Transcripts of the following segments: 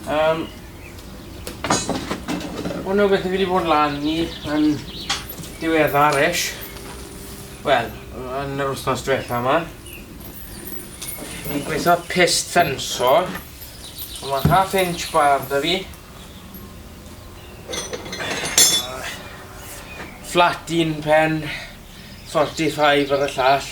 Um, hwnnw beth i fi wedi bod lan ni yn diweddar ish. Wel, yn yr wythnos diwetha yma. Fi'n gweithio pist ffenso. Mae half inch bar da fi. Flat un pen, 45 ar y llall.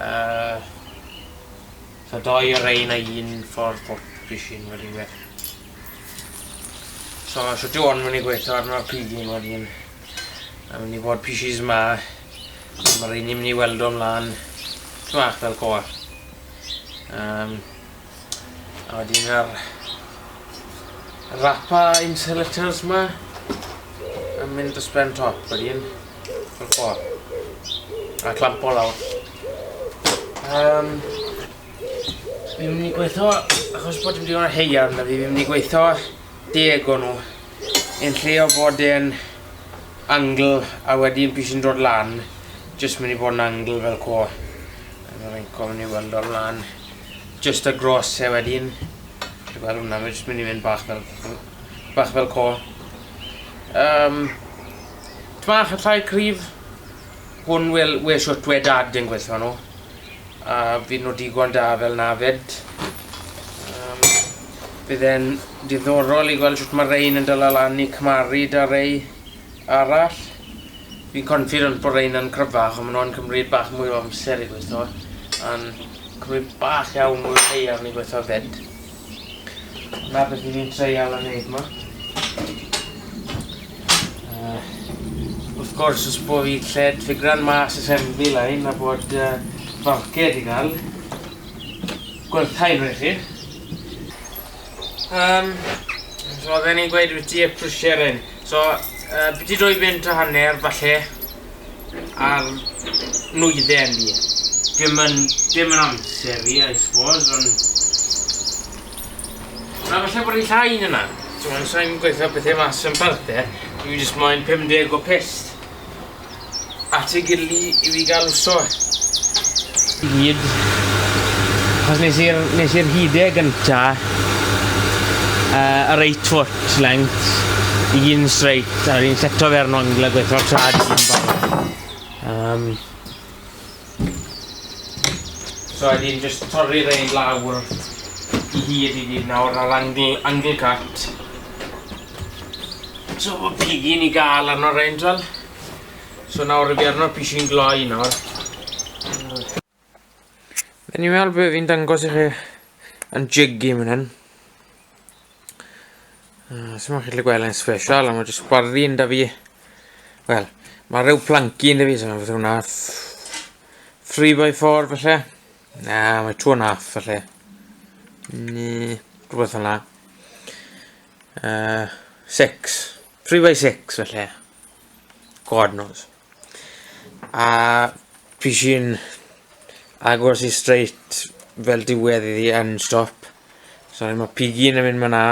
Yy so doi o rein a un ffordd bob pishin wedyn fe. So shwt yw hwn mynd i gweithio arno'r pigyn wedyn. A mynd i fod pishis ma. Mae'r rhein i'n mynd i weld o'n mlaen. Ti'n mach fel coa. Um, A wedyn ar rapa insulators ma yn mynd dros ben top wedyn fel fo. A clampo lawr. Um, fi'n mynd i gweithio, achos bod dim digon o heia arno fi, fi'n mynd i gweithio deg o nhw. Yn lle o bod yn angle a wedyn pys yn dod lan, jyst mynd i bod yn angle fel co. Yn rhaid gofyn i weld o'n lan. Jyst y gros e wedyn. Dwi gwel wnna mae jyst myn' i fynd bach fel ff- bach fel co. Yym. Ty bach yn llai cryf. Hwn wel we shwt we dad yn gwella nw. A fy' nw digon da fel na fyd. Yym. Bydd e'n diddorol i gweld shwt ma' rein yn dala lan i cymharu 'da rei arall. Fi'n confident bod rhein yn cryfach ond ma' nhw'n cymryd bach mwy o amser i gweitho a'n cymryd bach iawn mwy o haearn i gweitho 'fyd. 'Na beth fi 'di treial a neud 'ma. Wrth gwrs os bo fi lled ffigran mas assembly line a bod yy falced i ga'l, gwerthai'r chi. Yym so oedden ni'n gweud wyt ti y prwsierin. So, uh, byddi roi fynd a hanner, falle, ar nwyddau ni. Dim yn, dim yn amser fi, I suppose, ond... Na, falle bod i'n llai yna. So, mae'n sain gweithio bethau mas yn barth e. Dwi'n jyst moyn 50 o pest. at ei gily i fi ga'l uso e. I gyd. Achos nes i'r nes i'r hyd e gynta yy yr eight foot length i gyd yn straight a fi'n seto fe ar 'n angle a gweitho trad un ffordd. Yym. So a wedyn jyst torri rein lawr i hyd i gyd nawr ar angle angle cut. So ma' pigyn ni ga'l arno rein t'wel? So nawr fi arno pishyn gloi nawr. Eniwe ar be' fi'n dangos i chi yn jiggy man 'yn. Uh, Sut mae'n chi'n gweld yn special, ond mae jyst gwarddi yn da fi. Wel, mae rhyw planci yn da fi, so mae'n hwnna 3x4 felly. Na, mae 2 and a half felly. Ni, rhywbeth yna. Uh, 6. 3x6 felly. God knows. A fi sy'n agos i straight fel diwedd iddi yn stop. So mae pigyn yn mynd ma na.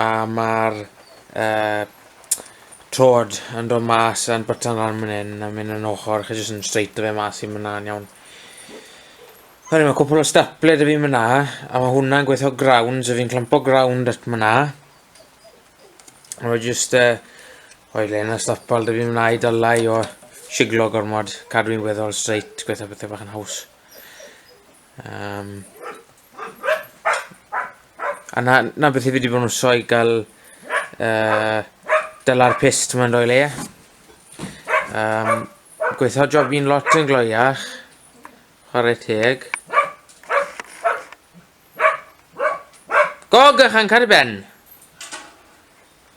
A mae'r uh, trod yn dod mas yn bytan lan mynd hyn a mynd yn ochr chi jyst yn straight o fe mas i mynd na'n iawn. Hynny, mae cwpl o stapler dy fi mynd na, a mae hwnna'n gweithio ground, so fi'n clampo ground at mynd na. Rwy'n just uh, o'i le na stopol dy fi wneud o lai o siglo gormod, cadw i'n weddol straight, gweithio pethau bach yn haws. Um, a na, na beth i fi wedi bod yn wso i gael uh, dyla'r pist mae'n rhoi le. Um, gweithio job i'n lot yn gloiach, chwarae teg. Go gychan cari ben!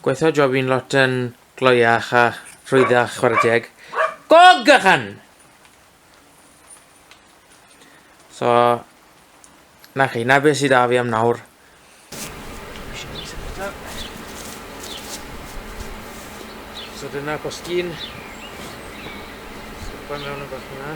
Gweithio job i'n lot yn gloiach a rhwyddach chwarae teg. Go gychan! So, na chi, na beth sydd da fi am nawr. So dyna postyn. Pan mewn yn bach yna.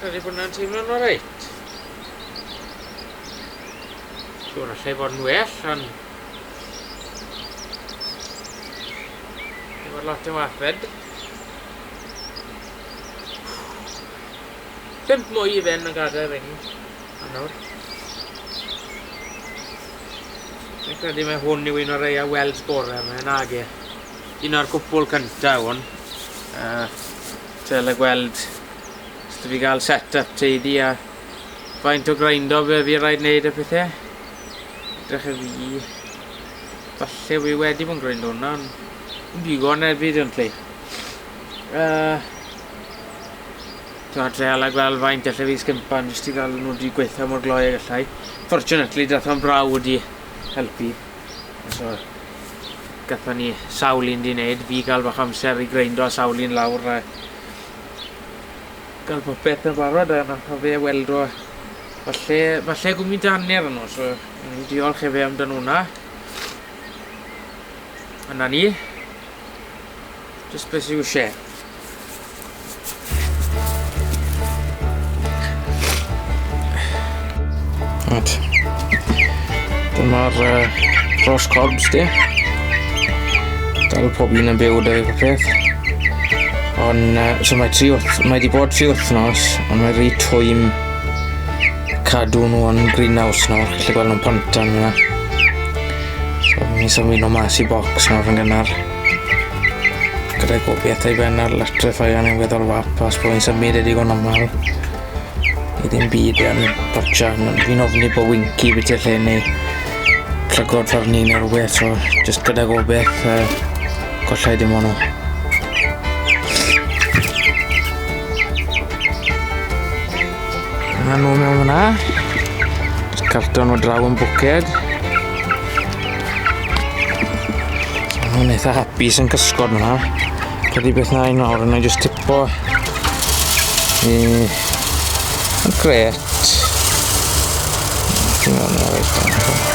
Rhaid i hwnna'n teimlo'n oreit. Siwr allai fod yn well, ond... Efo'r lot o wafed. Pump mwy i fynd yn gadael ring. A nawr. Dwi'n credu mae hwn yw un o'r ei a weld sgorau yma, nag e. Un o'r cwpwl cyntaf hwn. Uh, Dyle gweld os dw fi gael set up teidi a faint o graindo fe fi rhaid wneud y pethau. Edrych y fi. Falle fi wedi bod yn graindo hwnna, ond yn digon evidently. Uh, Dwi'n treol a gweld faint allai fi sgympan jyst i gael nhw wedi gweithio mor gloi a gallai. Fortunately, dath o'n braw wedi helpu. So gathon ni sawl un 'di neud, fi ga'l bach amser i greindo sawl un lawr a ga'l popeth yn barod a nath o fe weld o falle falle gwmyn da anner yno so o'n i'n diolch e fe amdan wnna. A 'na ni. Just beth sy'n isie. Right. Dyma'r uh, Ross Corbs di. Dal pob un yn byw da fi peth. Ond, uh, so mae tri wrth, mae di bod tri wythnos, ond mae rhi twym cadw nhw yn greenhouse nhw, lle gweld nhw'n pantan yna. So, ni'n symud nhw mas i box nawr yn gynnar. Gyda'i gofiaith ei ben ar letre ffaion yn weddol wap a sboen symud ei digon aml i ddim byd yn dotio yn fi'n ofni bod Winky beth i'r lle neu llygod ffordd ni neu rhywbeth so just gyda gofiaith uh, gollai dim ond nhw. Yna nhw mewn hwnna. Carton o draw yn bwced. Mae'n eitha hapus yn cysgod yna. Credu beth na i nawr, yna i just tipo i y gret. Dwi'n meddwl na reit dan.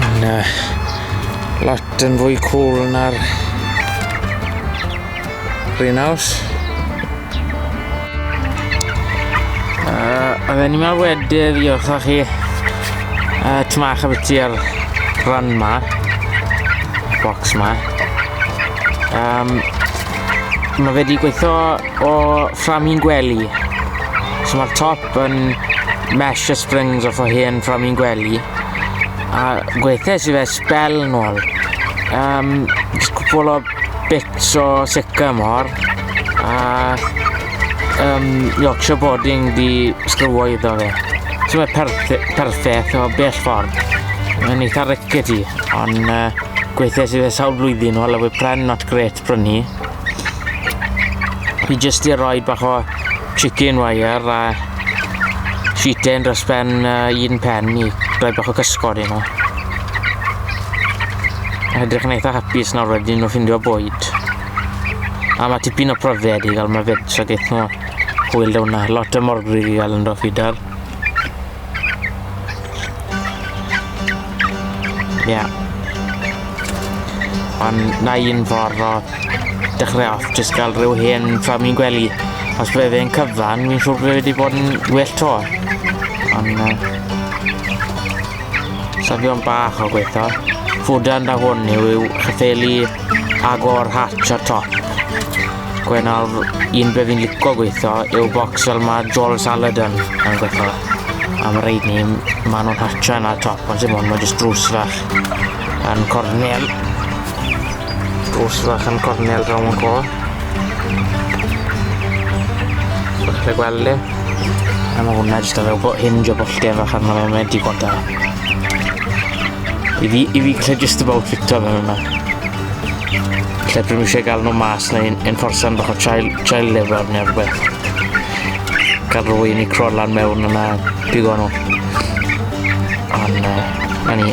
Yn uh, lot yn fwy cool na'r greenhouse. Uh, oedden ni mewn wedi ddiolch o chi uh, tymach a byti ar rhan ma, box ma. Um, mae wedi gweithio o fframi'n gwely. So mae'r top yn mesh a springs off o hen ffram i'n gwely a gweithes i fe spel yn ôl um, just cwpl o bits o sica mor a um, Yorkshire boarding di sgrywo iddo fe so mae perffaith o bell ffordd yn eitha rickety ond uh, gweithes i fe sawl blwyddyn o lawy pren not great prynu. Fi jyst i roi bach o chicken wire a sheeten dros ben uh, un pen i roi bach o cysgod i nhw. Edrych yn eitha hapus nawr wedyn nhw ffindio bwyd. A mae tipyn o pryfed i gael mae fed, so gaeth nhw hwyl hwnna. Lot o morgrug i gael yn dod fidar. Ie. Ond na un ffordd o dechrau off, jyst gael rhyw hen ffam i'n gwely. Os fe fe'n cyfan, fi'n siŵr bod e wedi bod yn well to. Ond... Uh, Safion bach o gweithio. Fwdan da hwn yw yw chyffeli agor hatch ar top. Gwe nawr, un be fi'n lico gweithio yw box fel mae Joel Saladan yn gweithio. Am yr reid ni, maen nhw'n hatcha yna top, ond sy'n mwyn, mae jyst drws fach yn cornel. Drws fach yn cornel draw yn co. Bwch chi gweld e? A mae hwnna jyst yn rhyw hinge o bolltef fach arno fe, mae digon da. I fi, i fi lle just about fito fe yma. Lle pryd eisiau gael nhw mas neu enforsan bach o child, child labour neu rhywbeth. Cael rwy'n i crolan mewn yna bigo nhw. Ond, uh, na ni.